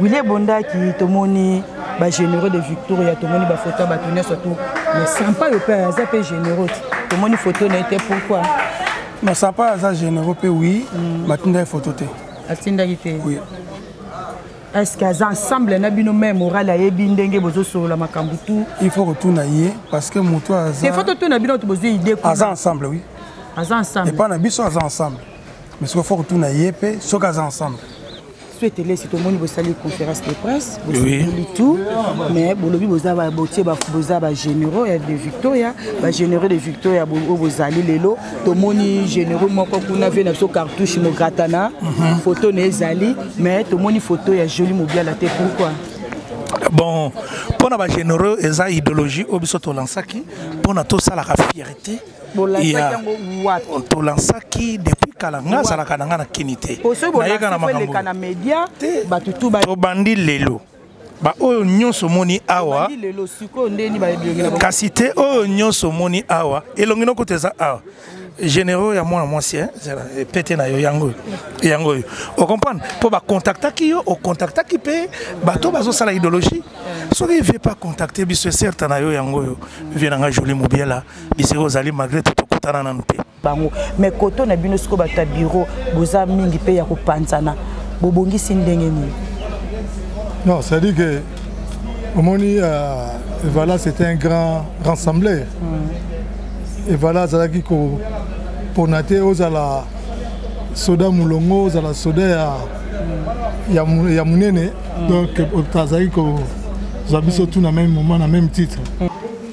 wili ebondaki tomoni bagénéraux de victoria tomoni bafoto ya bato nyonso tu mais sampa yo mpe aza mpe généraux ti tomoni foto na ye te pourquoi mais sampa aza généraux mpe wi mm. batinda ye foto te atindaki te oui. est ce que aza ensemble na bino mai moral ayebi ndenge bozosolola makambo tu il faut kotuna ye parce que motu aza faut totuna bino to bozwi idée aza ensemble oui aza ensemble epai na biso aza ensemble mais soki faut kotuna ye mpe soki aza ensemble suete lesi tomoni bosali conférence de presse bosali tout mais bolobi boza botie boza bagénéraux ya de victoria bagénéraux de victoria oyo bozali lelo tomoni généraux moko kuna vie na biso cartouche mogratana mhm. photo na ezali mais tomoni photo ya joli mobiala te pourquoi bon mpo na bagénéraux eza idéologie oyo biso tolansaki mpo na tosalaka fierté tolansaki depuis kala ngai azalaka na ngai na kini te nayeka na makamboobandi lelo baoyo nyonso omoni awa kasi te oyo nyonso omoni awa elongi noko te eza awa généraux ya mwana mwasi eh, pete na yo yango oyo yango oyo ocomprendre mpo bakontaktaki yo okontaktaki mpe bato bazosala idéologie soki vie pas contacte biso eserte na yo yango oyo vie na ngai joli mobiela bisika ozali malgré tout tokutana nanu te bango me koto na bino sikoyo bato ya biro boza mingi mpe ya kopanzana bobongisi ndenge nini non c'est-à-dire que omoni euh, evala c'était un grand rassembleur mm. evala azalaki kopona te ozala soda molongo ozala soda ya, ya, ya monene mm. donc azalaki kozwa biso tout na même moment na même titre mm.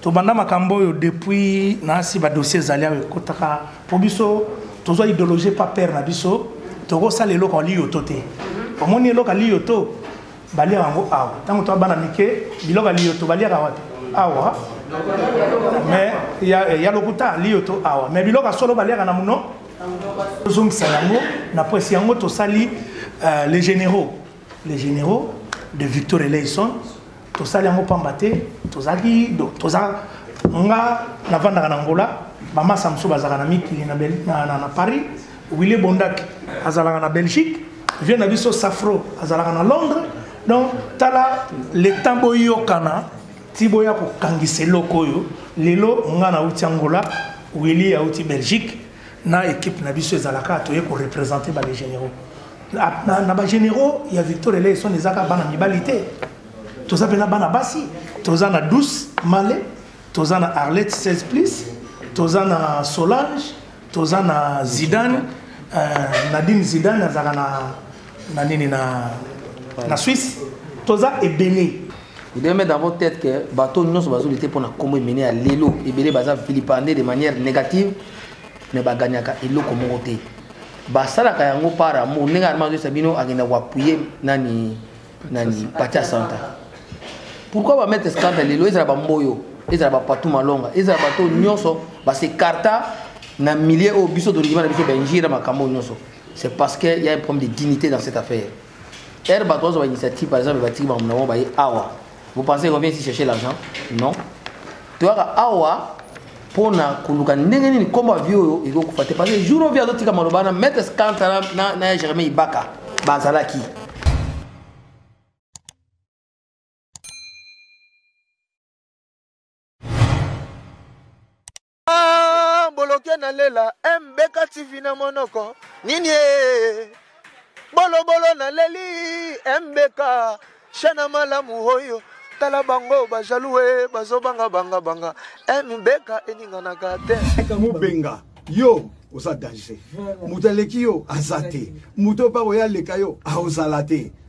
tobanda makambo oyo depuis nasi badossier ezali awa ekotaka mpo biso tozwa idéologie pa père na biso tokosala eloko aliyoto te omoni eloko aliyoto baliaka yango awa ntango toa bana mike biloko aliyoto baliaka wapi awa mais ya, ya lokuta aliyoto awa mais biloko ya solo baliaka na mono tozongisa yango na presi yango tosali uh, les généraux les généraux de victor eleison tosali yango mpamba te tozalaki toza nga navandaka na ngola bamasa mosusu bazalaka na mikili na, na, na, na paris wille bondak azalaka na belgique vie na biso safro azalaka na londres donc tala leta boyokana ti boya kokangisa eloko oyo lelo nga nauti angola wili auti belgique na équipe na biso ezalaka toye ko représenter ba les généraux na, na, na ba généraux ya Victor Eleison ezaka bana mibali te toza pena bana basi toza na 12 Malé toza na Arlette 16 plus toza na Solange toza na Zidane euh, Nadine Zidane azaka na na nini na na Suisse toza ebele Vous devez mettre dans votre tête que bateau nous bazo lutter pour na kombo mené à lelo et belé baza vilipendé de manière négative mais ba gagnaka eloko moko te. Ba sala ka yango par amour ndenge armando sabino agenda ko appuyer nani nani Pacha Santa. Pourquoi ba mettre scandale lelo ezala ba mboyo ezala ba patou malonga ezala bateau nyonso ba se carta na milieu au biso de l'Igimana biso benjira makambo nyonso. C'est parce qu'il y a un problème de dignité dans cette affaire. Heure bato bazwa bainitiative par exemple batiki bango na bango baye awa vous pensez revient ici chercher l'argent non toyaka awa mpo na koluka ndenge nini nkombo ya vie oyo ekoki kokufa te parce que jour ovi azotika maloba na maître scanta na ya germain ibaka bazalaki Ah, boloke na lela mbeka tv na monoko nini e bolobolo na leli mbeka shana malamu oyo tala bango bajalue bazobanga banga banga mbeka eninganaka te mubenga yo oza danger moto aleki yo aza te moto oyo mpa koya aleka yo aozala te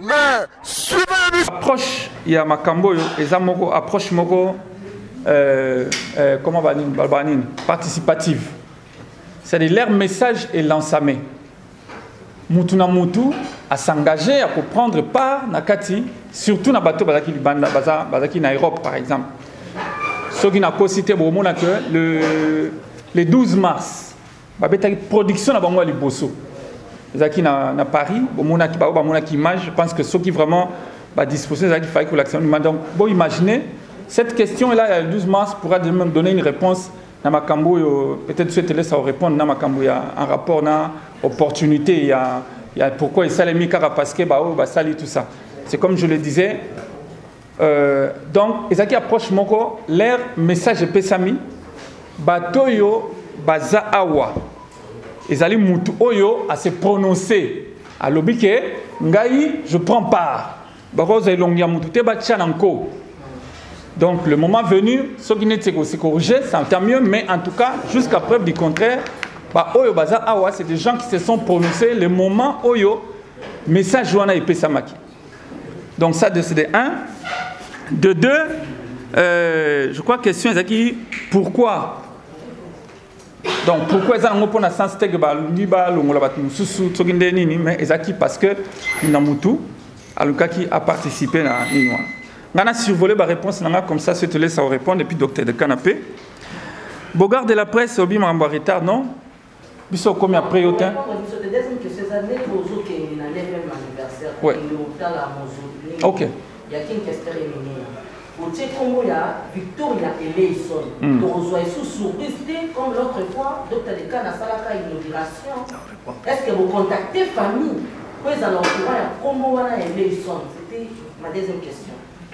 mais suivez approche ya makambo oyo eza moko approche moko euh, euh, comment banini balobaka nini participative c'est-à-dire leur message est lansame mutu na mutu asengage ya koprendre part na kati surtout na bato bazalaki libanda bazalaki na europe par exemple soki nakosi te bokomona que le, le 12 mars babetaki production na bango ya liboso ezalaki na, na paris bomonaki baoyo bamonaki image je pense que soki vraiment badisposition ezalaki faki kolakisa nima donc boimagine cette question là ya 12 mars pourra même donner une réponse na makambo oyo peut-être so etelesa orépondre na makambo ya en rapport na opportunité ya, ya pourquoi esalemi kaka parce que baoyo basali tout ça c'est comme je le disais Euh, donc ezalaki approche moko leur message epesami bato oyo baza awa ezali mutu oyo ase prononce alobi ke ngai je prends part bakozwa elongi ya mutu te batya na nko donc le moment venu soki neti ekosekorige ça tant mieux mais en tout cas jusqu'à preuve du contraire baoyo baza awa c'est des gens qui se sont prononcés le moment oyo message wana epesamaki Donc ça de CD 1. De 2, euh, je crois que question est qui pourquoi donc pourquoi eza yango mpona sens te ke balingi balongola bato mosusu soki nde nini mais eza ki parce que na mutu alukaki aparticipe na nini wana ngai na survole baréponse na ngai comme ça se te laisse au répondre et puis docteur de canapé bogard de la presse obi makambo ya retard non biso okomi apres yo tin ouais. ok otie nkombo ya victoria eleison hmm. tokozwa esu surprise te comme l'autre fois dr lekan asalaka inauguration est ce que bocontacte famille mpo ezala okura ya nkombo wana ya eleison c'était ma deuxième question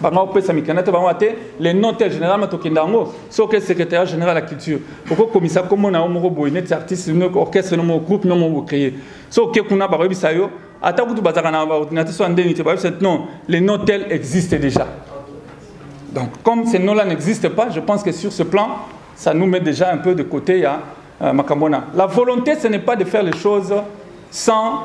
banga kopesa mikanda te bango te le nom te généralement tokenda yango soki secrétaire général ya culture okokomisa nkombo na yo moko boye neti artiste no orchestre no moko groupe no moko bocreye so oke kuna bakoyebisa yo ata kutu bazalaka na baordinateur so ya ndenge te bayebisa non le nom tel existe déjà donc comme ce nom là n'existe pas je pense que sur ce plan ça nous met déjà un peu de côté ya euh, makambo wana la volonté ce n'est pas de faire les choses sans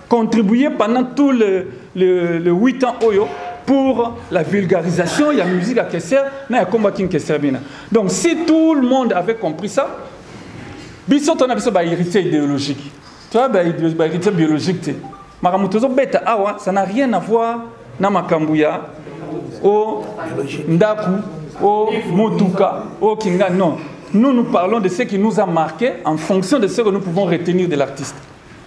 contribuer pendant tout le, le, le 8 ans oyo pour la vulgarisation ya musique ya keser na ya komba king keser bina donc si tout le monde avait compris ça biso tona biso bahéritier idéologique toya bahéritier biologique te makambo tozobeta awa ça n'a rien à voir na makambo ya o ndaku o motuka o kinga non nous nous parlons de ce qui nous a marqué en fonction de ce que nous pouvons retenir de l'artiste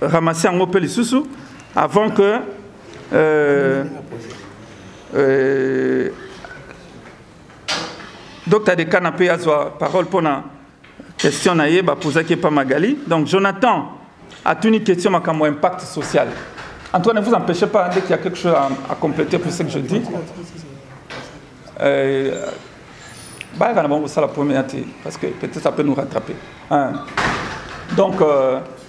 ramase yango mpe lisusu avant que euh, euh, dr dekana mpe azwa parole mpo na question na ye bapozaki epa magali donc jonathan atuni question makambo ya impact social en tout cas ne vous empêchez pas dès qu'il y a quelque chose à, à compléter pour ce que je dis euh, bayaka na bango kosala première te parce que peut-être ça peut nous rattraper hein. donc euh,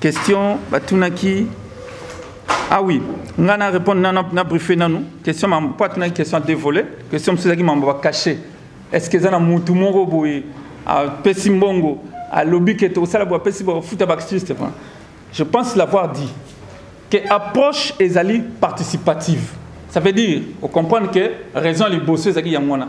question batunaki ah oui nga na répondre na, na, na briefe nanu question mambo mpo atunaki question dévolé question mosusu ezalaki mambo bacache est ce que eza na motu moko boye apesi mbongo alobi ke tokosala boye apesi bafuta baartiste je pense l'avoir dit que approche ezali participative ça veut dire ocomprendre que raison liboso ezalaki yango wana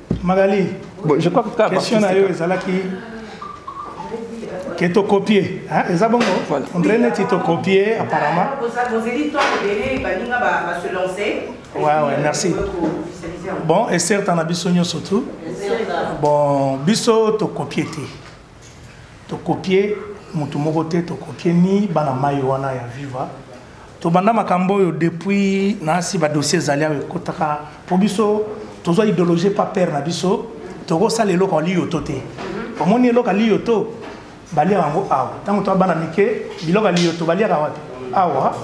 Magali, bon, je crois que question na yo ezalaki ke to copier hein eza bongo voilà. on dirait neti to copier apparemment bozeli to ebele baninga ba se lancer ouais ouais merci bon et certes na biso nyonso tout bon biso to copier te tokopie motu moko te tokopie ni bana mai wana ya viva tobanda makambo oyo depuis naasi badossier ezali awa ekotaka mpo biso tozwa idéologie pa père na biso tokosala eloko aliyo to te omoni eloko aliyo to baliaka yango awa ntango toa bana mike biloko aliyo to baliaka wapi awa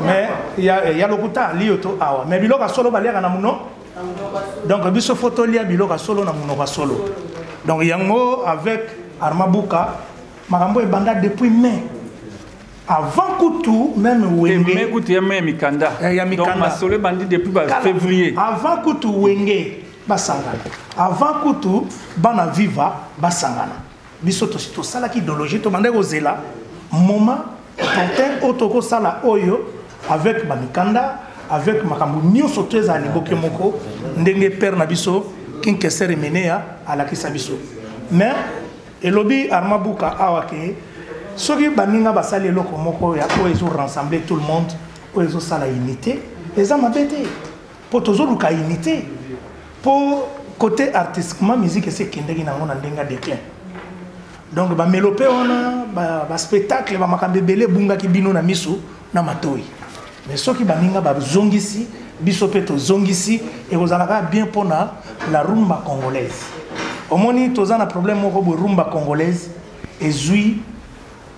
mais ya, ya lokuta aliyo to awa mais biloko ya solo baliaka na mono donc biso fo tolia biloko ya solo na monoko ya solo donc yango avec arma buka makambo ebanda depuis mai avant kutu meme wenge mai kutu ya mai ya mikanda eh, ya mikanda donc masolo ebandi depuis ba février avant kutu wenge basangana avant kutu bana viva basangana biso tosi tosalaki idéologie tobandaki kozela moment opportun oyo tokosala oyo avec bamikanda avec makambo nyonso to ezala liboke moko ndenge père na biso kinkesere menea alakisa biso mais elobi arma buka awa ke soki baninga basali eloko moko ya oyo ezo rassembler tout le monde oyo ezosala unité eza mabe te mpo tozoluka unité mpo côté artistiquement musique esi ekendeki nango na ndenge ya déclin donc bamelope wana baspectacle ba bamakambo ebele ebungaki bino na miso na matoi mais soki baninga bazongisi biso mpe tozongisi ekozala kaka bien mpona la rumba congolaise omoni toza na problème moko boye rumba congolaise ezwi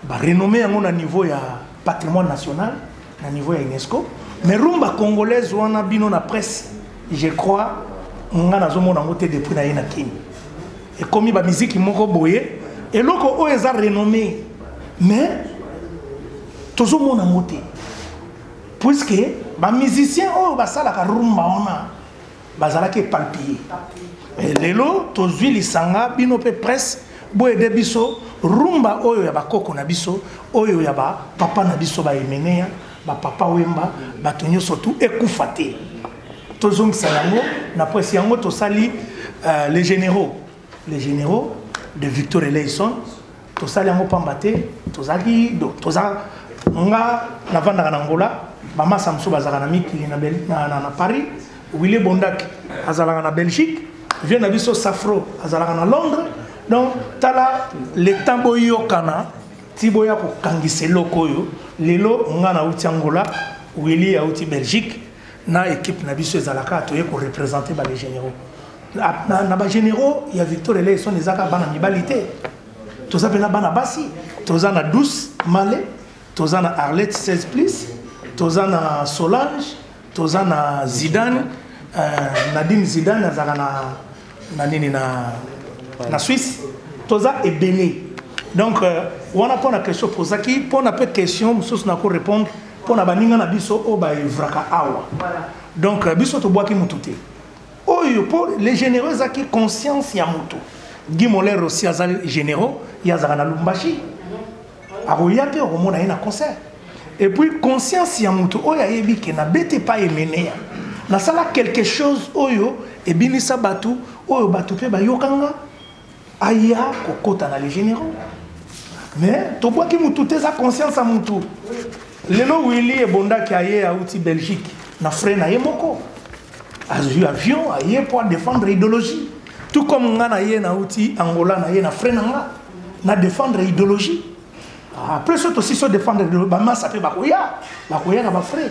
Ba renommé yango na niveau ya patrimoine national, na niveau ya UNESCO. Mais rumba congolaise wana bino na presse, je crois nga nazomona yango te depuis naye na Kin. Ekomi ba miziki moko boye, eloko oyo eza renommé. Mais tozomona yango te. Puisque ba musiciens oyo basalaka rumba wana bazalaki epalpille eh, lelo tozwi lisanga bino mpe presse boyede biso rumba oyo ya bakoko na biso oyo ya bapapa na biso baemeneya bapapa wemba bato nyonso tu ekufa te tozongisa yango na presse yango tosali uh, les généraux les généraux de victor eleison tosali yango mpamba te tozalaki toza nga navandaka na ngola bamasa mosusu bazalaka na mikili na, na, na, na paris wille bondaki azalaka na belgique vie na biso safro azalaka na londres donc tala leta boyokana ti boya kokangisa eloko oyo lelo nga nauti angola wili auti belgique na équipe na biso ezalaka toye ko représenter ba les généraux na, na, na ba généraux ya Victor Eleison ezaka bana mibali te toza pena bana basi toza na 12 Malé toza na Arlette 16 plus toza na Solange toza na Zidane euh, Nadine Zidane azaka na na nini na na Suisse toza ebele donc euh, wana pona question pozaki pona pe question mususu na ko répondre mpo na baninga na biso oyo baevraka awa donc euh, biso tobwaki motu te oyo mpo le généraux ezalaki conscience ya motu guy moler aussi aza généraux ye azalaka na lumbashi akoya te okomona ye na concert et puis conscience ya motu oyo ayebi ke nabete pa emeneya nasala quelque chose oyo ebinisa bato oyo bato mpe bayokanga aya kokota na les généraux mais tobwaki mutu te eza conscience ya mutu lelo willi ebondaki aye auti belgique na frais na ye moko azwi avion aye mpo adefendre idéologie tout comme nga na ye nauti angola na ye na frais na nga na défendre idéologie ah, après soki tosi so défendre bamasa mpe bakoya bakoya na bafrais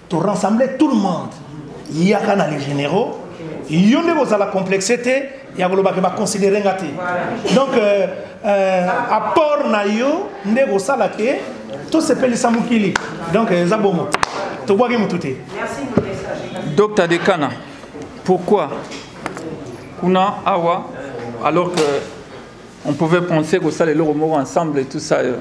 to rassembler tout le monde yaka na les généraux yo nde kozala complexe te ya koloba ke baconsidere nga te donc euh, euh, apport na yo nde kosala ke tosepelisa mokili donc eza bongo tobwaki motu te docteur dekana pourquoi kuna awa alors que on pouvait penser kosala eloko moko ensemble et tout ça euh,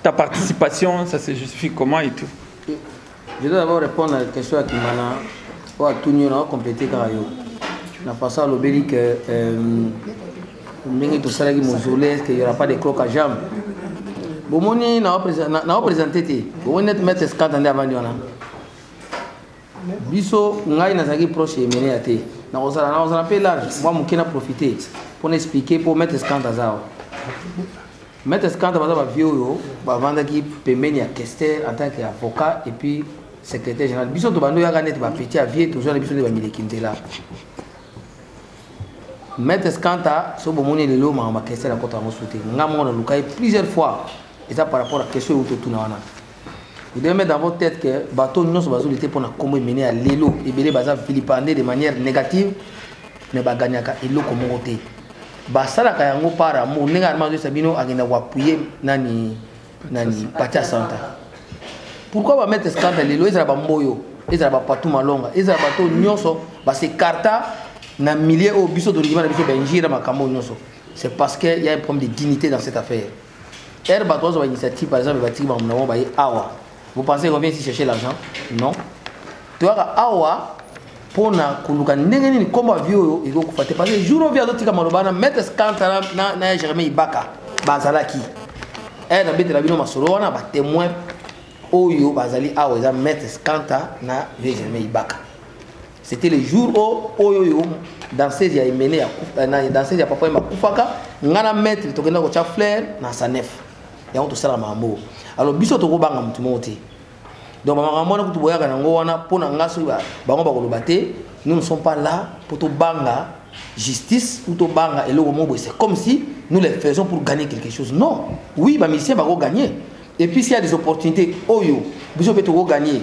ta participation ça se justifie comment et tout Je dois d'abord répondre à la question à Kimana. Ou à tout on a complété car yo. La façon à l'obéli que ndenge tosalaki mausolée est-ce qu'il n'y aura pas de cloque à jambes bomoni na opresente te bomoni neti maître escante nde avandi wana biso ngai nazalaki proche emene ya te nakozala nakozala mpe large mwa moke na profite mpo na explike mpo maître escante aza awa Maître Skanda baza ba vieux oyo bavandaki pembeni ya Kester en tant que avocat et puis secrétaire général. Biso to bando yaka net ba petit ya vieux tozwa na biso nde ba mileki nzela. Maître Skanda so bomoni lelo mama Kester akota yango sute. Nga moko na lukai plusieurs fois eza par rapport à question oyo totuna wana. Vous devez mettre dans votre tête que bateau nous bazo lutter pour na kombo mené à lelo et belé baza vilipendé de manière négative mais ba gagnaka eloko moko te. Ba sala ka yango par amour ndenge arma zo sabino agenda ko appuyer nani nani Patia Santa. Pourquoi ba mettre scandale lelo ezala ba mboyo ezala ba patou malonga ezala bateau nyonso ba se carta na milieu au biso to ndima na biso benjira makambo nyonso. C'est parce qu'il y a un problème de dignité dans cette affaire. Heure bato bazwa initiative par exemple batiki bango na bango baye awa vous pensez revient ici chercher l'argent non toyaka awa mpo na koluka ndenge nini nkombo ya vie oyo ekoki kokufa te parce que jour ovi azotika maloba na maître scanta na ya germain ibaka bazalaki ere nabetela bino masolo wana batemoin oyo bazali awa eza maître scanta na vieux germain ibaka c'était le jour o oyo oyo danseuse ya emene ya euh, danseuse ya papa ema akufaka ngai na maître tokenda kotya flair na sanef yango tosala mambo alors biso tokobanga motu moko te donc bamakambo wana kutu boyaka nango wana mpo na ngai soki bango bakoloba te nous ne sommes pas là mpo tobanga justice ou tobanga eloko moko boye c'est comme si nous les faisons pour gagner quelque chose non oui bamisien bakogagner et puis s'il y a des opportunités oyo biso mpe tokogagner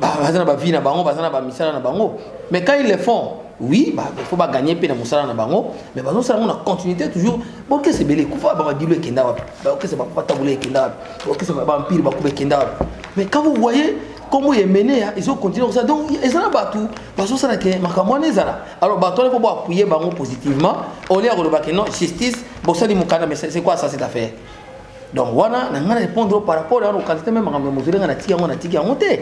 baza na bavie na bango baza na bamisala na bango mais quand ils le font oui bah, il faut bagagner mpe na mosala na bango mais bazosala yango na continuité toujours baokesa ebele ekufa bamabilo ekenda wapi baokesa bakufa tabula ekenda wapi baokesa bampire bakuba ekenda wapi mais quand vous voyez nkombo ya emenea ezokontinue kosala donc eza na bato bazosala ke makambo wana ezala alors bato wana mpo boapuye bango positivement olie ya koloba ke non justice bosali mokanda mais c'est quoi ça cette affaire donc wana na ngai na répondre par rapport ya lokalite meme makambo ya mozole ngai natiki yango natiki yango te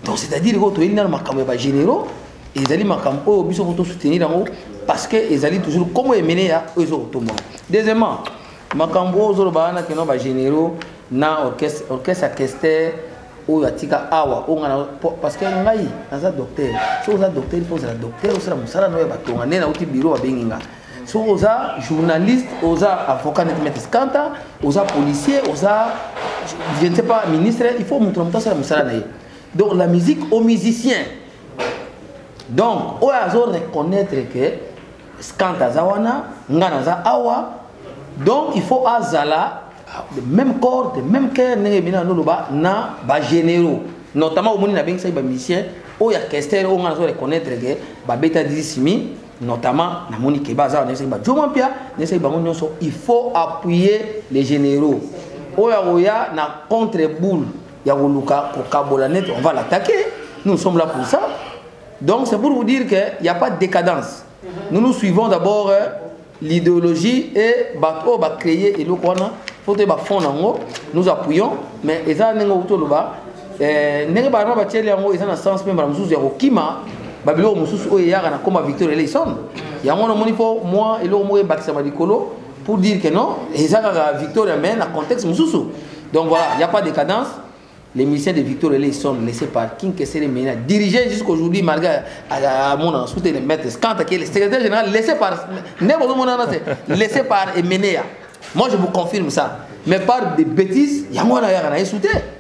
donc c'est à dire oyo toyeli nano makambo ya bagénéraux ezali makambo oyo biso ko tosoutenir yango parce que ezali toujours komo emene ya oyo ezo kotomba deuxièmement makambo oyo ozoloba wana keno bagénéraux na orchestre orchestre ya kester oyo atika awa oyo ngai parce que ngai naza docteur soki oza docteur mpo ozala docteur osala mosala no ya batonga nde nauti biro babengi ngai soki oza journaliste oza avocat neti maître scanta oza policier oza je ne sais pas ministre il faut moto na moto asala mosala na ye donc la musique au musicien donc oyo azo reconnaître que scanta aza wana nga naza awa donc il faut azala de même corps de même cœur ndenge ebina na noloba na bagénéraux notamment omoni nabengisaki bamusicien oyo ya kester oyo nga nazo reconnaître ke babeta disimi notamment na moni keba aza na ba joma pia na seki bango nyoso il faut appuyer les généraux oyo akoya na contre boule ya koluka kokabola net on va l'attaquer nous sommes là pour ça donc c'est pour vous dire que il y a pas de décadence nous nous suivons d'abord euh, l'idéologie et bato oyo bacréer eloko wana fo toyeba fond yango nous appuyons mais eza ndenge outi oloba eh, ndenge bana batieli yango eza na sens mpe mbala mosusu ya kokima babiloko mosusu oyo eyaka na koma victor eleison yango wana omoni mpo mwa eloko moko ebakisama likolo pour dire que non eza kaka victoria mais na contexte mosusu donc voilà il n'y a pas de cadence les musiciens de victor eleison laissé par king kesele mena dirigé jusqu'aujourd'hui malgré amonana sous les maîtres quant à qui le secrétaire général laissé par nde bozomonana te laissé par emenea moi je vous confirme ça mais par des bêtises yango wana yaka na ye sous te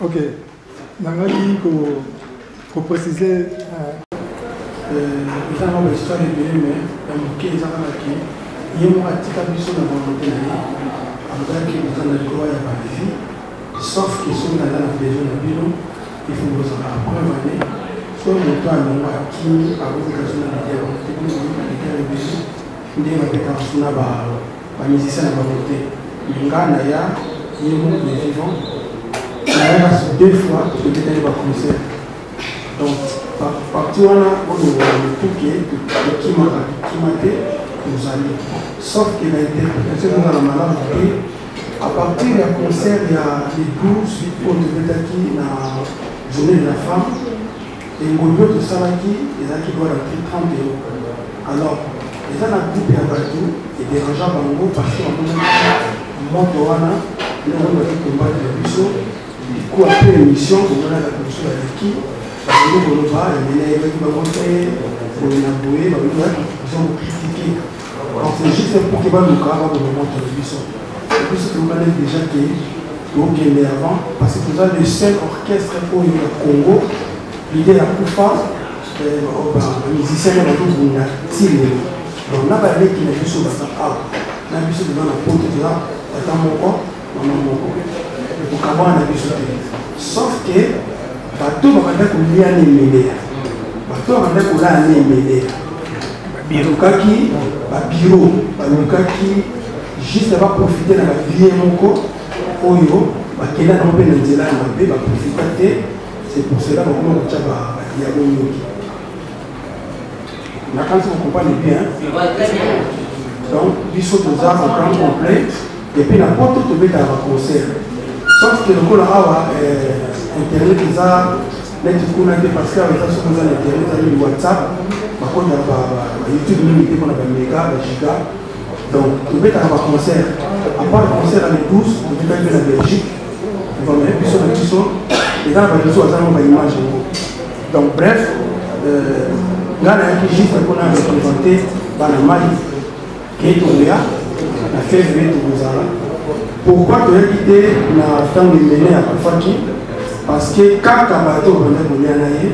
Ok, nangaki ko ko préciser. Euh, euh, eza na bahistoire ebele me ya moke eza kaka ke ye moko atika biso na volonté na ye alobaki boza na droit ya balevi sauf ke soki naza na besoin na bino ifo bozala apreuve ane soki moto alongo akimi akoki kaso na lidia bamotebiso na lidia na biso nde babetaka suna ba ba musiciens na bango te mais nga na ya ye moko le vivant nayaka deux fois tobetaki ba concert donc parti wana olongola motuke tokimaka tokima te tozali sauf que na interprétation ezonga na malamu te à partir ya concert ya le 12 oyo tobetaki na journée de la femme Engondo tosalaki ezalaki loi na prix 30 euros. Alors, eza na groupe ya bato ederangea bango parce que bamonaki moto wana yango baki kombate na biso liku apre émission komonaka biso baleki bakoki koloba emene ebaki bango te boye na boye bakoki bakritika Donc c'est juste pour que baluka baboma moto na biso biso tomonani déjà ke tokende avant parce que toza le seul orchestre oyo ya congo lide ya kufa bamusicien na bazobunda ti lelo donc na baleki na biso baza awa na biso toza na poto toza tata moko bango moko ekokabwana na biso te sauf ke bato babanda kolia na emedeya bato babanda kolala na emedeya balukaki babiro balukaki juste baprofite na babie moko oyo bakenda nango mpe na nzela ya mabe baprofita te c'est pour cela bakoma kotya badiabo ndoki nakanisi kokompane bien donc biso toza na plan complet epuis na poto tobetaka baconcert sauf ke lokola awa eh, internet eza neti kuna te parce que awa eza soki oza na internet ezali whatsapp bakota bayoutube mingi te mpona bamega bagiga donc tobetaka baconcert apart concert ya le 12 tobetaki mpe na belgique vamele biso na biso eza na bareseau aza ngo baimage yango donc bref euh, ngai nayaki juste mpona représente bana mali Ye tokoya na fevrier tokozala pourkoi toyebi te na ntango imene akufaki parce que kaka bato obanda kolia na ye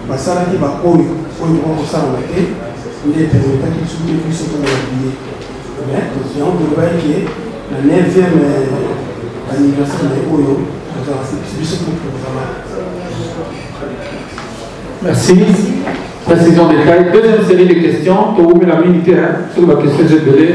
basalaki baoyo oyo koka kosalama te nde epermetaki biso te biso tozala biye mais toziango tolobaki ke na 9e anniversaire na ye oyo tozala biso mpe tozala merci Précision des tailles. Deuxième série de questions. Pour vous, la minute, sur la question de belé.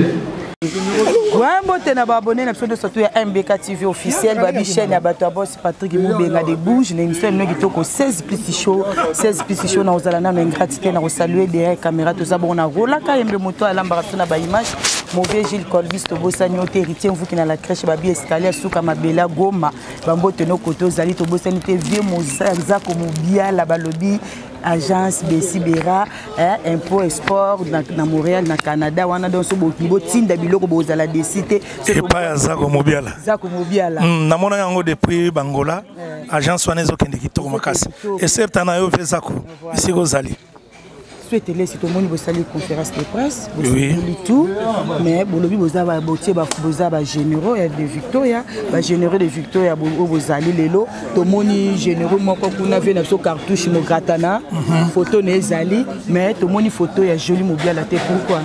mbote na baabone na biso nyonso to ya mbk tv officiel babi chaîne ya bato ya bos patrik mobenga de bouge na émission elino kitoko 16 plus show 16 plus show na kozala nano ingrati te na kosalue derrière caméra toza bongo na rolaka yembe moto alambaka biso na baimage mauvais gilles colbis tobosani yo te héritier mvuki na la crèche babi escalier ya suka mabela goma bambote noko tozali tobosani te vieux mozanzako mobiala balobi agence besibera eh, impôt et sport na, na montréal na canada wana donc so botinda biloko bozala desi te epai ya zako mobiala zako mobiala mm, namonaki yango depuis bangola eh. agence wana ezokende kitoko makasi eserta na yo mpe zako esika ozali etelesi tomoni bosali conférence de presse bosali tout mais bolobi boza botie boza bagénéraux ya de victoria bagénéraux de victoria oyo bozali lelo tomoni généraux moko kuna vie na biso cartouche mogratana mhm. photo na ezali mais tomoni photo ya joli mobiala te pourquoi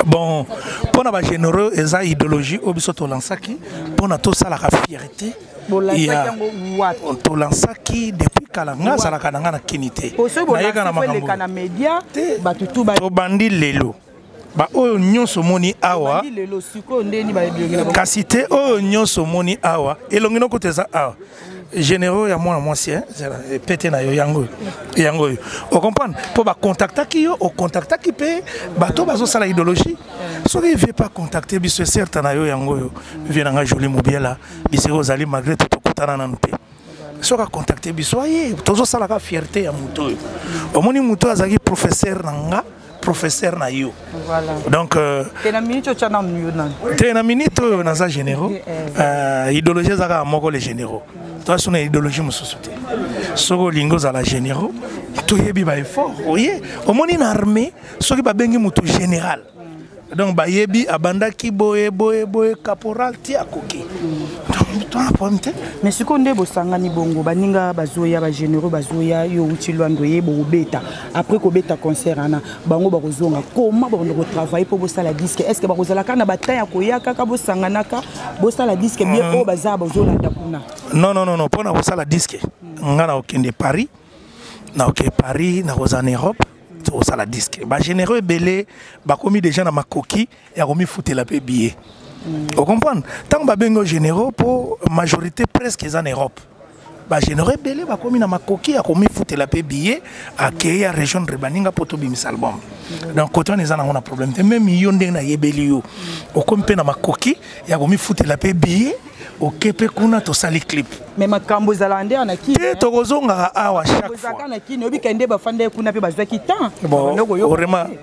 bon mpo na bagénéraux eza idéologie oyo biso tolansaki mpo na tosalaka fierté tolansaki depuis kala nga azalaka na nga na kini te nayeka na makambo tobandi lelo baoyo nyonso omoni awa kasi te oyo nyonso omoni awa elongi noko te eza awa généraux ya mwana mwasi eh, pete na yo yango yango oyo ocomprendre mpo bakontaktaki yo okontaktaki mpe bato bazosala idéologie soki vie pas contacte biso eserte na yo yango oyo vie na ngai joli mobiela bisika ozali malgré te tokutana nanu te soki akontakte biso aye tozosalaka fierté ya moto oyo omoni moto oyo azalaki professeur na nga professeur na yo donc euh, te na minute oyo naza généraux eh, eh. Euh, idéologie eza kaka moko les généraux toaso na idéologie mosusu te soki olingi ozala généraux toyebi baeffort oye omoni na armée soki babengi moto général donc bayebi abandaki boye boye boye caporal ti akoki tona problème te mais sikoyo nde bosangani bongo baninga bazoya bagénéraux bazoya yo outi lwando ye bokobeta après kobeta concert wana bango bakozonga koma bakondo kotravaille mpo bosala diske est ce que bakozala kaka na batin ya koya kaka bosanganaka bosala diske bien oyo baza bazolanda kuna non non non mpo na kosala diske nga na kokende paris na kokende paris na kozala na europe tokosala disque bagénéraux ebele bakomi déjà na makoki ya komifutela mpe billet ocomprendre ntango babengi o généraux mpo majorité presque eza na europe bagénéraux ebele bakomi na makoki ya komifutela mpe billet akei ya région de baninga mpo tobimisa album donc kote wana eza nango na problème te meme yo ndenge nayebeli yo okomi mpe na makoki ya komifutela mpe billet oke mpe kuna tosali clip me makambo ezalaka nde na kini te tokozongaka awa chaqueezalaka na kini obika nde bafandaki kuna mpe bazwaki temps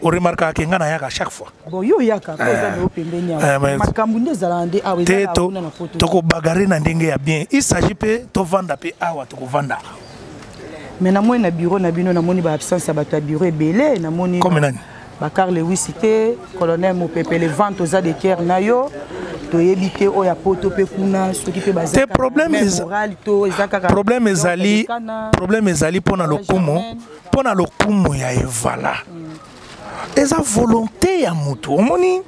oremarkaka ke ngai nayaka chaque fois bon yo oyaka mpo eza nao pembeni awa makambo nde ezalaka nde awa ezalakuna na poto tokobagare na ndenge ya bien il s'agit mpe tovanda mpe awa tokovanda me namoni na bureau na bino namoni baabsence ya bato ya bureau ebele namoni Bakar Lewisi te, colonel Mopepe le vent oza de cœur na yo. toyebi te oyo ya poto mpe kuna soki mpe bazte problème ezali problème ezali mpo na lokumu mpo na lokumu ya evala mm. eza volonté ya motu omoni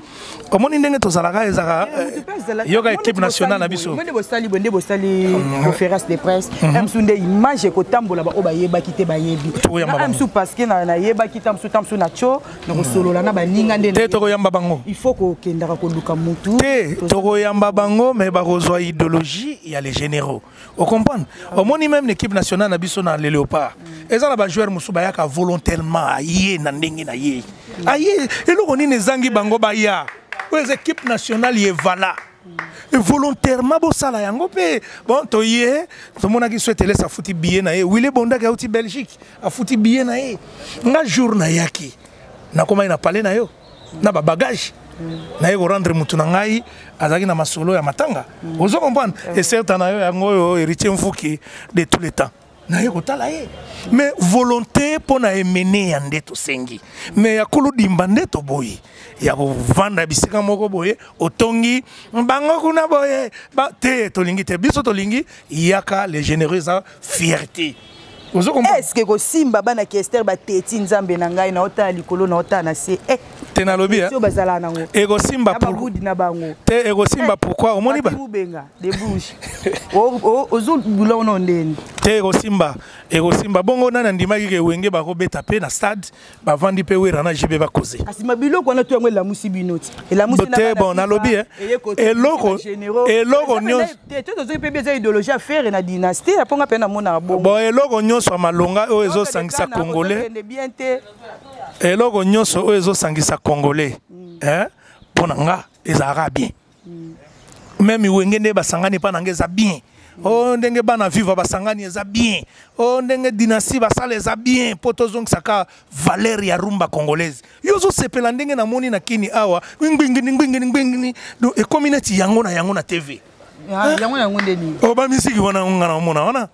omoni ndenge tozalaka ezalaka eh, yoka équipe nationale na biso nde bosali boye nde bosali mm. conférence de presse mm-hmm. msu nde image ekotambola baoyo bayebaki te bayebi msu parceke nayebaki ta msu ta msu na tio nakosolola na baninga nde te tokoyamba bango il faut kokendaka koluka motu te tokoyamba bango mais bakozwa idéologie ya les généraux o comprendre omoni même na équipe nationale na biso na le léopard mm. eza na bajoueur mosusu bayaka volontairement aye na ndenge na ye mm. aye eloko nini ezangi bango baya oyo eza équipe nationale ye vala mm. volontairement bosala yango mpe bon toye tomonaki so etelesi afuti biye na ye wile bondaki auti belgique afuti biye na ye nga jour nayaki nakomaki na pale na yo na ba bagage naye korendre motu na ngai azalaki na masolo ya matanga mm. ozo comprendre eserta na yo yango oyo héritier mfuki de tous les temps naye kotala ye mais volonté mpo na emene ya nde tosengi mais ya koludimba nde toboyi ya kovanda bisika moko boye otongi bango kuna boye te tolingi te biso tolingi yaka le généreux eza fierté eske ekosimba bana kester bateti nzambe na ngai naotala likolo naotala na se eh, te nalobi eh? bazalaka nango ekosimba babudi na bango te ekosimba eh, pourkui omoni babenga de bouche ozobula ono ndeni te ekosimba ekosimba bongo nani andimaki ke wenge bakobeta mpe na stade bavandi mpe wera na jb bakoze kasi mabiloko wana to yango elamusi bino ti elamusite bon nalobi eh. eloko eloko nyonsotozoki mpe eza idéologie ya fere na dynastie ya mponga mpe namonaka bongo bon eloko nyonso ya malonga oyo ezosangisa congolais eloko nyonso oyo ezosangisa congolais mpo hmm. eh, na nga ezalaka bien meme wenge nde basangani epai na ngai eza bien o oh, ndenge bana viva basangani eza bien o oh, ndenge dynastie basala eza bien mpo tozongisaka valeur ya rumba congolaise yo ozosepela ndenge namoni na kini awa ngbingini ngbingini ngbingini ekomi neti yango na yango na tv Ah, yango yango nde nini o oh, bamiziki wana nga na omona wana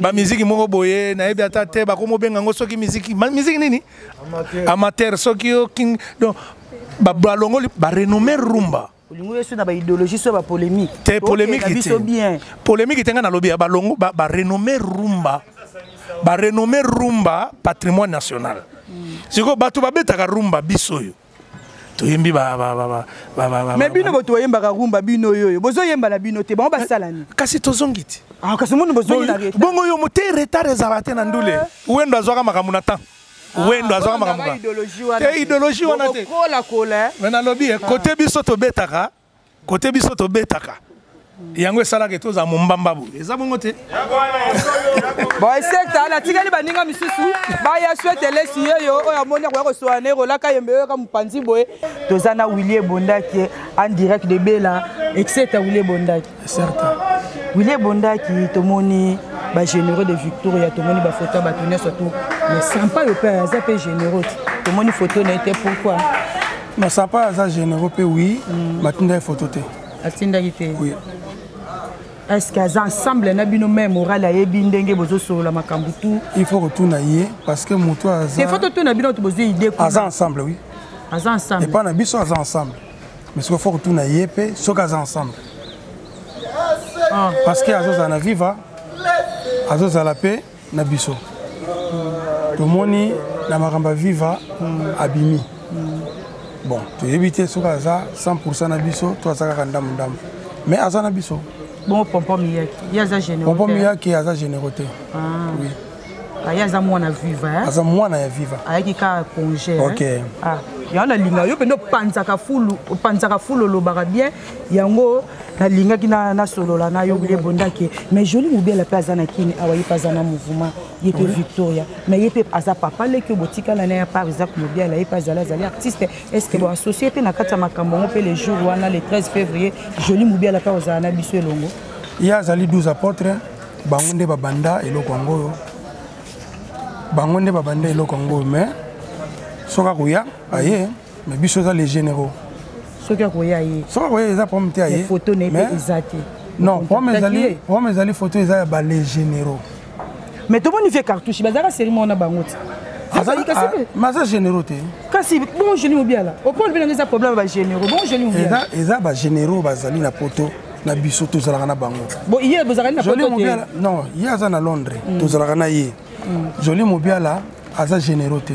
bamiziki moko boye nayebi ata te bakomobenga yango soki miziki miziki nini amateur soki yo king donc balongoli ba renommé rumba olingi yesu na baidéologie so ya bapolémique te polémique biso bien polémique te ngai nalobi ya balongo barenommé rumba barenommé rumba patrimoine national hmm. sikoyo bato babetaka rumba biso oyo toyembi me bino boto oyembaka rumba bino oyoyo bozoyemba na bino te bango basala nini kasi tozongi te ah, kasi moni bozongi na bongo yo mote retard ezala te na ndule eh. wendo azwaka makambo na temps wendo azwaka makambo te ideologie wana te me nalobi ye kote biso tobetaka kote biso tobetaka yango esalaka ete ozala mombamba boye eza bongo te boesekta natikali baninga misusu baya swete elesi yeyo oyo amoni akoya kosola na ekolaka yembe oyoka mopanzi boye toza na wilie ebondaki en direct de bela etc wilie ebondaki certain wile ebondaki tomoni bagénéreux de victoria tomoni bafoto ya bato nyonso tu mais sampa yo mpe aza mpe généreux te tomoni foto na ye te pourquoi na sampa aza généreux mpe wi batindaki mm. foto te atindaki te oui. est ce que aza ensemble na bino mai moral ayebi ndenge bozosolola makambo tu il faut kotuna ye parce que moto aza il faut totuna bino to bozwi idée aza ensemble oui aza ensemble epai na biso aza ensemble mais sikoyo fo kotuna ye mpe soki aza ensemble ah. parce que azozala na viva azozala mpe na biso tomoni na makambo ya viva abimi bon toyebi te soki aza 100 pourcent na biso to aza kaka ndambo ndambo mais aza na biso bongo pompo miyaki ye aza généraux pompo miyaki aza généraux te ah. oui aye aza mwana viva eh? aza mwana ya viva ayaki kaka congé eh? okay. eh? ah. yango nalinga yo mpenza opanzaka fulu opanzaka fulu olobaka bien yango nalingaki nasolola na yo bile bondake mais joli mobela mpe aza na kini awa ye mpe aza na mouvement ye mpe victoria mais ye mpe aza papa leki botikala na ya par isaac mobiala ye mpe azali azali artiste est ce que boassocie mpe na kati ya makambo yango mpe le jour wana le 13 février joli mobiala mpe ozala na biso elongo ye azali 12 apôtre bango nde babanda eloko yango oyo bango nde babanda eloko yango oyo mais soki akoya aye mais biso eza les généraux soki akoya ye soki akoya eza problème te aye photo na ye eza te non problème ezali problème ezali photo eza ya ba les généraux mais tomoni vie cartouche bazalaka série moko na bango te maza ah, généraux te kasi bon génie obiala opole mpe nanga eza problème ya bagénéraux bon génie obiala eza bagénéraux bazali na poto na biso tozalaka na bango non ye aza na londres mm. tozalaka na ye mm. joli mobiala aza généraux te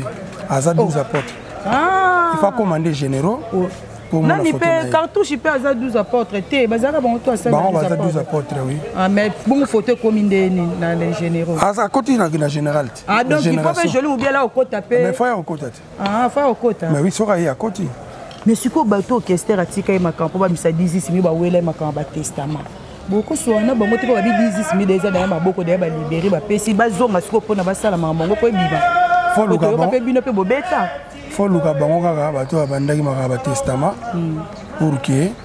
aza 12 apotre ah. ifa commande généraux oh. nani mpe cartouche mpe aza 12 apotre te bazalaka bango to asalibango baza 12 apotre oui ah, mais bongo foto ekomi nde nini na le généraux akoti na général te ah, donc il faut mpe joli mobiala okota mpe mais fo ya okota te Ah, fa okota. Mais oui, soka ye akoti. Mais sikoyo bato orchestre atika ye makambo mpo bamisa dizisi mi bawela ye makambo ya batestament bokosoa na bango te mpo babi dizisi mi deja daya maboko daya balibere bapesi bazonga sikoyo mpo na basala makambo yango mpo ebima otoyoka mpe bino mpe bobeta foluka bango kaka bato babandaki makambo ya batestament hmm. pour que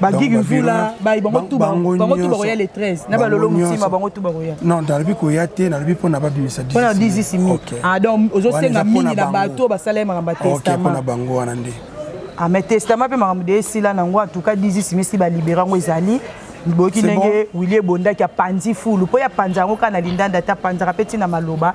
bagigi mvula bayi bango tu bango tu bakoya le 13 na balolo motima bango tu bakoya non nalobi koya te nalobi mpo na babimisa mpo na 10 mi ah donc ozosenga mingi na bato basala ye makambo ya testament mpo na bango wana nde ah mais testament mpe makambo de esila na yango atuka 10 misi balibera yango ezali boyoki ndenge willi ebondaki apanzi fulu mpo ye apanza yango kaka na lindanda te apanzaka mpe ntina maloba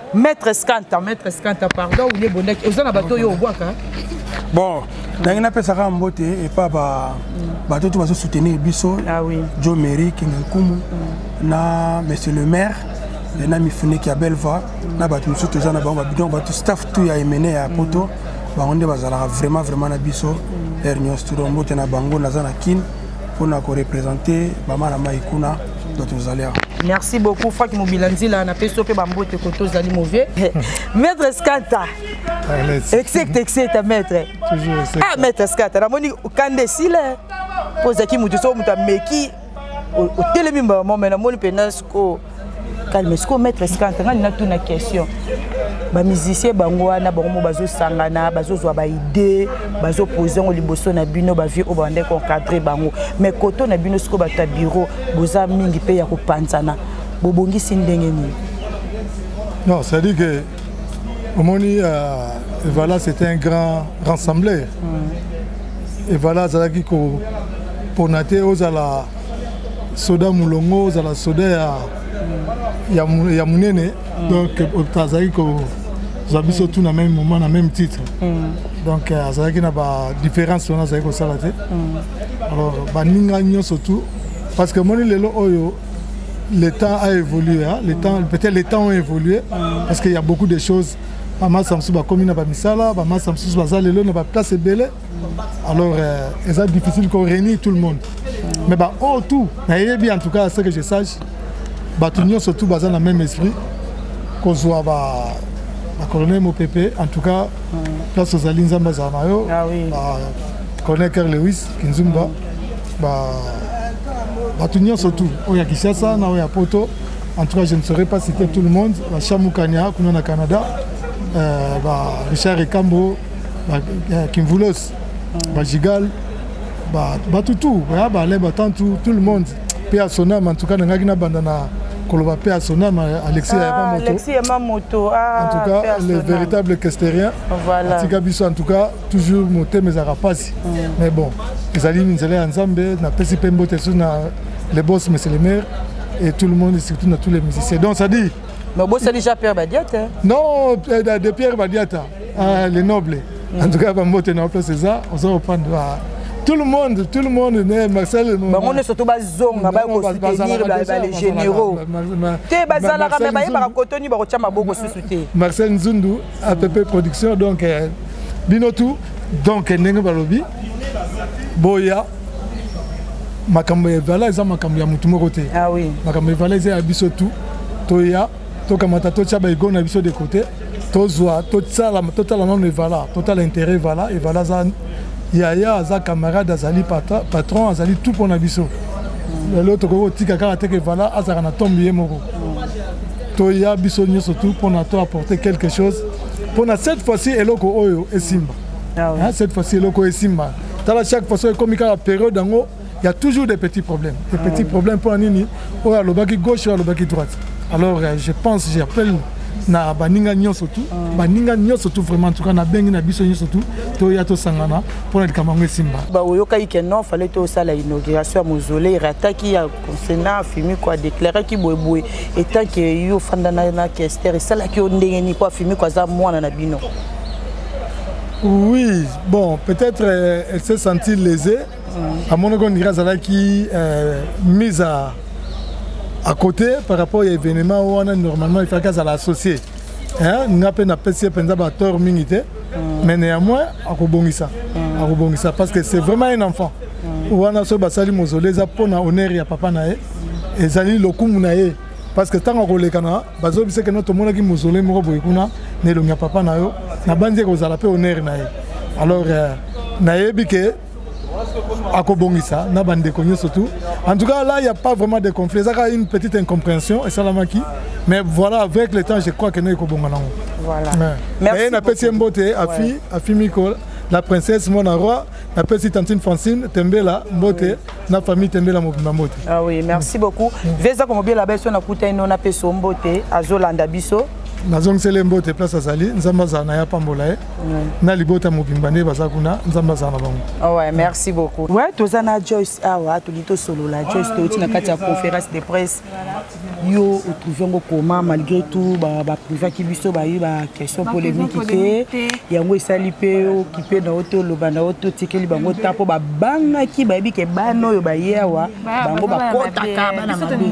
Maître Scanta, Maître Scanta, pardon, ou les bondaki, oza na bato yo obwaka. Bon, nangi napesaka mbote epa ba bato tout bazo soutenir biso. Ah oui. Joe Mary Kingankumu mm. na monsieur le maire et na mifuneki ya Belva mm. na bato mosusu toza na bango ba bidon bato staff tout ya Emene ya Poto. Mm. Bango nde bazalaka vraiment vraiment na biso. Mm. Ernios Turombote na bango naza na Kin. mpo na korepresente bama na mai kuna donc tozali awa merci beaucoup faki mobila nzila napesi yo mpe bambote koto ozali mauvais maître scata execte execte maître ah maître scata namoni kanda esila mpo ozalaki moto soko moto ameki otelemi mbala mwa mai namoni mpenza sikoyo calme sikoyo maître scante ngai natuna question bamusicien bango wana bango mo bazosangana bazozwa baide bazopose yango liboso na bino bavieux oyo babandaki koencadre bango mais koto na bino sikoyo bato ya biro boza mingi mpe ya kopanzana bobongisi ndenge nini non c'est-à-dire que omoni euh, evala c'était un grand rassembleur mm. evala azalaki kopona te ozala soda molongo ozala soda ya, ya, ya monene mm. donc euh, azalaki kozwa biso mm. tout na même moment na même titre mm. donc euh, azalaki na badifférence wana azalaki kosala te mm. alors baninga nyonso tout parce que moni lelo oyo le temps a évolué hein? le temps peut-être les temps ont évolué parce qu'il y a beaucoup de choses bamasa mosusu bakomi na bamisala bamasa mosusu baza lelo na baplace ebele alors euh, eza difficile ko réunir tout le monde mais ba oh tout nayebi en tout cas ce que je sache bato nyonso tout baza na même esprit kozwa ba bacolonel mopepe en tout cas place ozali nzambe azala na yo ah bacolonel ker lewis kinzumba bato nyonso tout oyo ya kinshasa na oyo ya poto en tout cas je ne saurais pas citer tout le monde bashamukania kuna na canada euh, ba richard ekambo eh, kimvulos mm. bajigal bato tout baya baalain batan tout tout le monde mpe ya sonama ntuka nangaki nabanda na koloba mpe ya sonama alexis yama moto ah, en tout cas le véritable kesterien atika biso en tout cas toujours motema ezalaka mpasi mm. mais bon ezali nzela ya nzambe napesi mpe mbote susu na le boss monsieur le maire et tout le monde et surtout na tous les musiciens donc ça dit mais obosani jean pierre badiata non eh, de pierre badiata Ah, les nobles. En tout cas, Bambote n'a pas c'est ça. On se reprend tout le monde tout le monde ne marcel bango nyonso to bazonga baye kosoutenir bale généraux te bazalaka me bayebaka kotoni bakotya maboko susu te marcel nzundu app production donc euh, bino tout donc ndenge balobi boya makambo ya vala eza makambo ya motu moko te ah makambo ya vala eza ya biso tout toya tokamata totya baigo na biso de côté tozwa totala nano evala totala intérêt evala evala aza yaya aza camarade azali patron azali tout mpo na biso lelo tokoki kotika kaka teke evala azalaka na tombe ye moko toya biso nyonso tout mpo na to apporter quelque chose mpo na cette fois-ci eloko oyo esimba ah cette fois-ci eloko oyo esimba tala chaque fois soki ekomi kaka periode yango ya toujours des petits problèmes des petits ah. problèmes mpo na nini oyo alobaki gauche oyo alobaki droite alors euh, je pense j'appelle na baninga nyonso tu ah. baninga nyonso tu vraiment tuka nabengi na biso nyonso tu toya tosangana mpo na likambo yango esimba baoyokaki ke non fale tosala inauguration ya mausolei rataki ya consena afimiko adeklaraki boyeboye etant ke yo ofanda na kester esalaki yo ndenge nini mpo afimiko aza mwana na bino oui bon peut-être euh, elle s'est sentie lésée mm. amonaki ondire azalaki euh, mise à, à côté par rapport ya événement wana normalement ifaki azala associé nga mpe napesi ye mpenza batore mingi te mm. mais néanmoins akobongisa mm. akobongisa parce que c'est vraiment un enfant wana soki basali mozole eza mpo na honneur ya papa na ye ezali lokumu na ye parce que ntango akolekana bazobisa keno tomonaki mozole moko boye kuna na elongi ya papa na yo nabanzi ekozala mpe honneur na ye alors euh, nayebi ke akobongisa na bandeko nyonso tout en tout cas là il n'y a pas vraiment de conflit ezaka une petite incompréhension esalamaki mais voilà avec le temps je crois que naye kobonga nango voilà. merci napesi ye mbote afi afi miko la princesse mwana roi napesi tantine francine tembela mbote oui. na famille tembela mobimba mbote ah oui merci beaucoup mm. veza komobela biso nakuta ino napesi yo mbote azolanda biso nazongiseli ye mbote place azali nzambe azala na ye apambola ye na libota mobimba nde baza kuna nzambe azala na bango ah ouais, merci beaucoup ouais, toza na joyce awa ah tolingi tosolola joyce touti na kati ya conférence de presse yo otrouve yango koma malgré tout baprivaki ba biso baye baquestion polémique te yango esali mpe okipe na yo te oloba na yo te otikeli bango ta mpo babangaki bayebi ke bana oyo baye awa bango bakotaka bana mabe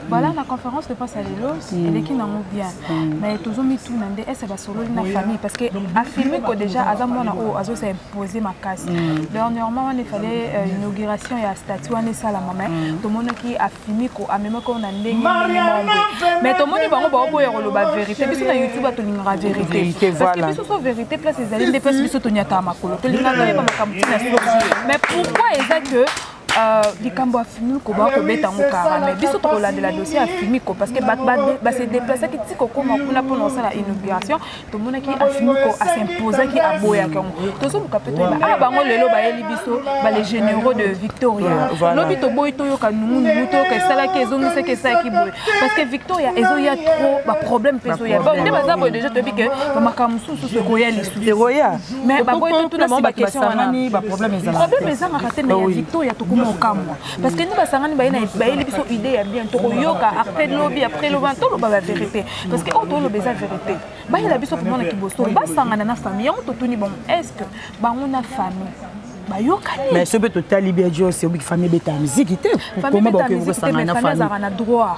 voilà na conférence de presse ya lelo mm. eleki nango bien mm. mais tozomituna nde ese basololi na famille parce que afirme ko déjà aza mwana oyo azosa impose makasi mm. dernièrement wana efale euh, inauguration ya statut wana esalama mais tomonaki afirme ko amemaki oyo na ndenge mais tomoni bango baoboya koloba vérité biso na youtube atolingaka vérité parce que biso so vérité place ezali nde place biso tonyataka makolo tolingaka toyeba makambo ntina mais pourquoi eza que Euh, likambo ya fimiko bakoki kobeta yango kara mai biso tokolandela dossier ya fimiko parce que bato base deplacaki ti kokóma kuna mpona kosala inauguration tomonaki afimiko asimposaki aboyaki yango tozoluka mpe toyeba aa ah, bango lelo bayeli biso bale généraux de victoria lobi toboyi toyoka nungunungu toyoka esalaki ezongisaki esalaki boye parce que victoria ezoya trop baproblème mpe ezoya nde baza boye déjà toyebi ke bamakambo mosusu mosusu ekoya lisusu mais baboyi totuna si baquestion wana problème ezangaka te mais ya victoria tokoma okamwa parce que ni basangani bayeli biso idée ya bien tokoyoka après lobi après lobi toloba ba vérité parce que oyo toloba eza vérité bayela biso komona kiboso basangana na famille yango totuni bango est ce que bango na famille bayokani mais soki mpe totali bia jos obiki famille ebetaka miziki te famille ebetaka miziki te mais famille azalaka na droit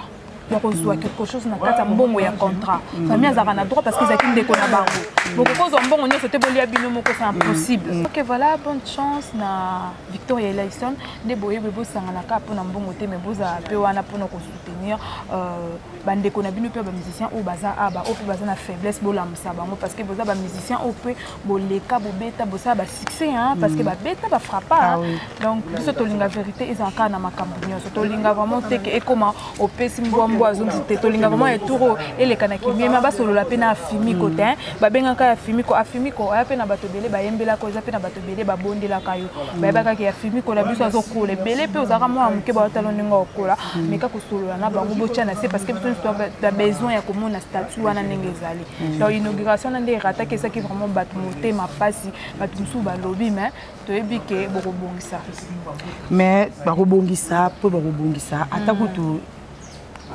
ya kozwa quelque chose na kati ya mbongo ya contrat famille azalaka na droit parce que ezalaki ndeko na bango bokoki kozwa mbongo nyonso te bolia bino moko c'est impossible mm. ok voilà bonne chance na victoria elison nde boyebi bosanganaka mpona mbongo te mais bozala mpe wana mpona kosoutenir euh, bandeko na bino mpe bamusicien oyo baza aba oyo mpe baza na faiblesse bolamusa bango parce que boza bamusicien oyo mpe boleka bobeta bosala basuccès hein, parce que mm. babeta bafrappa ah, oui. donc biso tolinga vérité ezala kaka na makambo nyonso tolinga vraiment te ke ekoma opesi mbwa mbwa azongisi te tolinga vraiment eturo eleka na kimiema basolola mpe na afimiko te hein. babengaka afimiko afimiko aya mpe na bato ebele bayembelaka eza mpe na bato ebele babondelaka yo mm. bayebaka ke afimiko na biso azokola ebele mpe ozalaka mwana moke baotalo ndenge okola mm. meka kosolola na bango botya na se parce que biso nyonso besoin ya komona statut wana ndenge ezali Mm. donc inauguration na nde erataki ezaki vraiment bato motema mpasi bato mosusu balobi mais toyebi ke bokobongisa mais bakobongisa mpo bakobongisa ata mm. kutu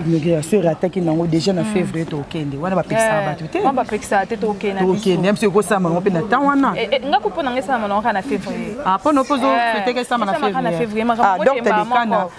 inauguration erataki nango déjà na mm. février tokende wana bapekisaka eh, bato te bapekisaka te tokende mpe ekosama yango mpe na temps wana eh, eh, nga kupo nanga esalama nango kaka na février ah, mpo nopo ozofeteke esama na février ah, donc telekana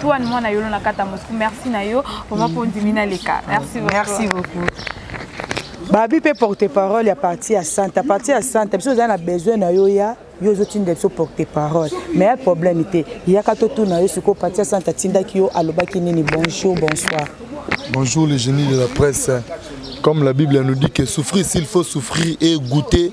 Tuan mwana yolo na kata Moscou merci na yo vraiment mpo ondimi naleka merci beaucoup. Merci beaucoup. babi mpe porte parole ya parti ya santa parti ya santa biso ozali na besoin na yo ya yo ozotinda biso porte parole mais ya problème te yaka totuna yo sikoyo parti ya santa atindaki yo alobaki nini bonjour bonsoir bonjour le génie de la presse comme la bible nous dit que souffrir s'il faut souffrir et goûter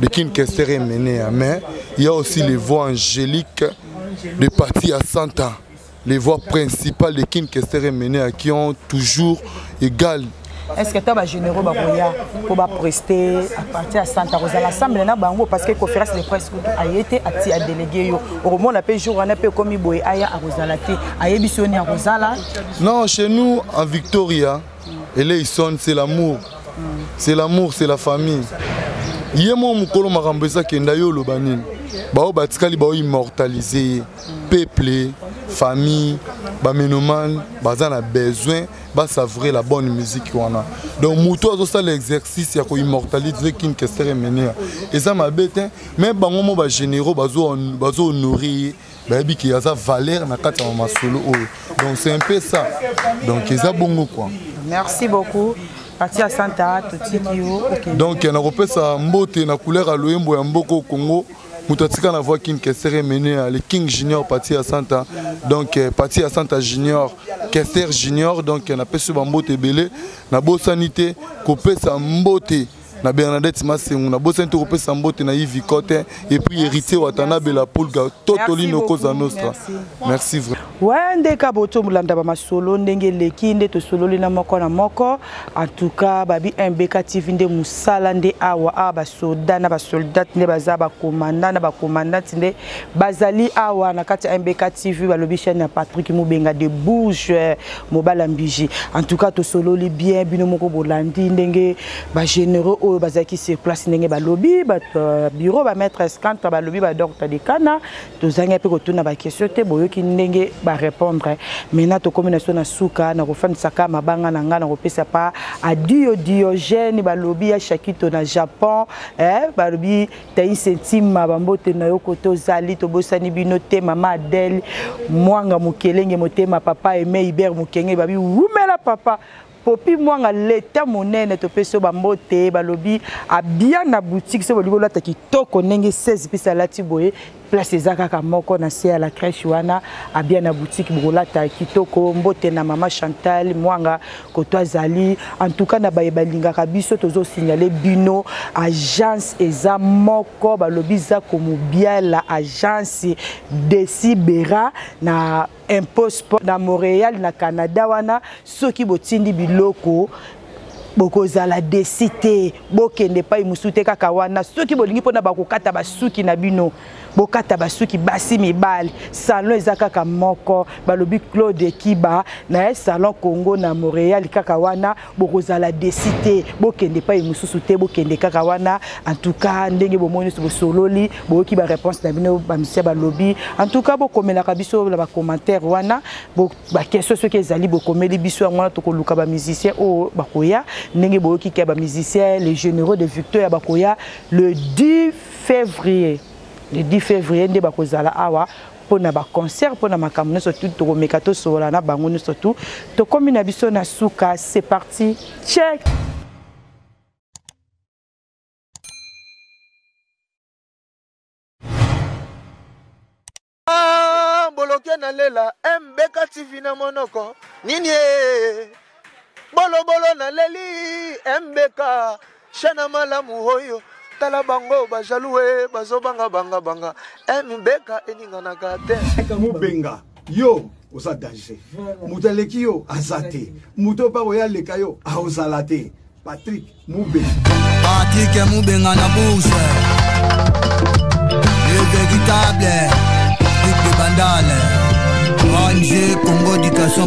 de Kin Kester est mené, hein. mais il y a aussi les voix angéliques de parti à Santa, les voix principales de Kin Kester est mené, hein, qui ont toujours égal est ce que ata bagénéraux bakoya mpo bapreste apartir ya santa kozala assemble na bango parce que conférence de presse kutu aye te ati adélégué yo okomona mpe jour wana mpe ekomi boye aya akozala te ayebisi yo ni akozala non chez nous en victoria eleison c'est l'amour c'est l'amour c'est la famille ye moko mokolo makambo eza kenda yo oloba nini baoyo batikali bao immortalise ye peuple famille bamenomane baza na besoin basavoure la bonne musique wana donc moto azosala exercice ya koimmortalise king kester emenea eza mabe te mais bango mo bagénéraux bazohonore ye bayebi ke aza valeur na kati ya masolo oyo donc c'est un peu ça donc eza bongo quoi merci beaucoup parti ya santa totiki yo okay. donc nakopesa mbote na couleur ya loyembo ya mboko congo moto atika na voix king kester emene le king junior parti ya santa donc eh, parti ya santa junior kester junior donc eh, napesi bambote ebele nabosani te kopesa mbote na Bernadette Masengu na bosani to kopesa mbote na Yves Cote et puis héritier Watanabe la Pulga Totolino Cosa Nostra merci vrai ouais ndeka boto mulanda ba masolo ndenge leki nde tosololi na moko na moko en tout cas babi MBK TV nde musala nde awa a ba soda na ba soldat nde baza ba commandant na ba commandant nde bazali awa na kati MBK TV balobi chaîne ya Patrick Mubenga de bouge mobala mbiji en tout cas tosololi bien bino moko bolandi ndenge ba généraux oyo bazalaki sur place ndenge balobi bato euh, bureau bamaître escantre balobi badocta de kana tozangi mpe kotuna baquestion te boyoki ndenge barépondre maintenant tokómi na so na suka na kofandisaka mabanga na ngai na kopesa pa adio diogène balobi ya shakito na japon eh, balobi taise ntima bambote na yo kote ozali tobosani bino te mama adele mwanga mokelenge motema papa eme iber mokenge babi wumela papa Popi Mwanga leta monene topesi yo bambote balobi abia na boutique soki bolingi olata kitoko ndenge 16 pisa alati boye place eza kaka moko na se ya la crèche wana abia na boutique bokolata kitoko mbote na mama Chantal Mwanga koto azali en tout cas na baye balingaka biso tozo signaler bino agence eza moko balobi za komobiala agence Desibera na impôt sport na Montréal na Canada wana soki botindi biloko bokozala desi te bokende epai mosusu te kaka wana soki bolingi mpona bakokata basuki na bino bokata basuki basi mibali salon eza kaka moko balobi claude kiba na ye salon congo na montréal kaka wana bokozala desi te bokende epai mosusu te bokende kaka wana en tout cas ndenge bomoni nyonso bosololi boyoki baréponse na bino bamisia balobi en tout cas bokomelaka biso na bacommentaire wana baquestion soki ezali bokomeli biso yango wana tokoluka bamusicien oyo bakoya ndenge boyoki ke bamusicien les généraux de victoria bakoya le 10 février le 10 février nde bakozala awa pona ba concert pona makambo nyonso tu tokomeka tosolola na bango nyonso tu tokomi na biso na suka c'est parti check boloke na lela mbeka tv na monoko nini bolobolo na leli mbeka Shana malamu oyo tala bango ba jaloux eh, bazo banga banga banga eh mibeka eninganaka te mubenga yo oza danger moto aleki yo aza te moto mpe oyo aleka yo aozala te patrik mubenga patrik mubenga na bourse le véritable duc de bandale ong congo éducation